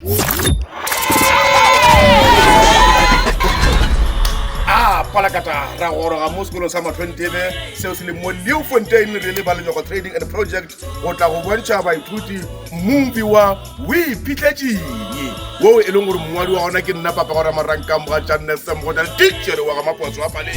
a palakata ra goroga mo sekolong sa matlhontebe seo se leng mo leo fontain re le ba lenyogo trading and project go tla go bontšha baithuti mobi wa o iphitlhetšeng woo e leng gore mongwadi wa gona ke nna papa gore marankang boga jannesem go tla le tichere wa ga maposo a paleng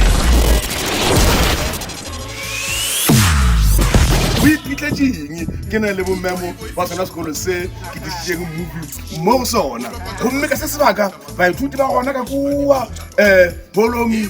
o iphitlhetšeng ke na le bomemo ba sona sekolo se ke tlišitšeng mmupi mo go sona gomme ka se sebaka baithuti ba gona ka kua um eh, bolomi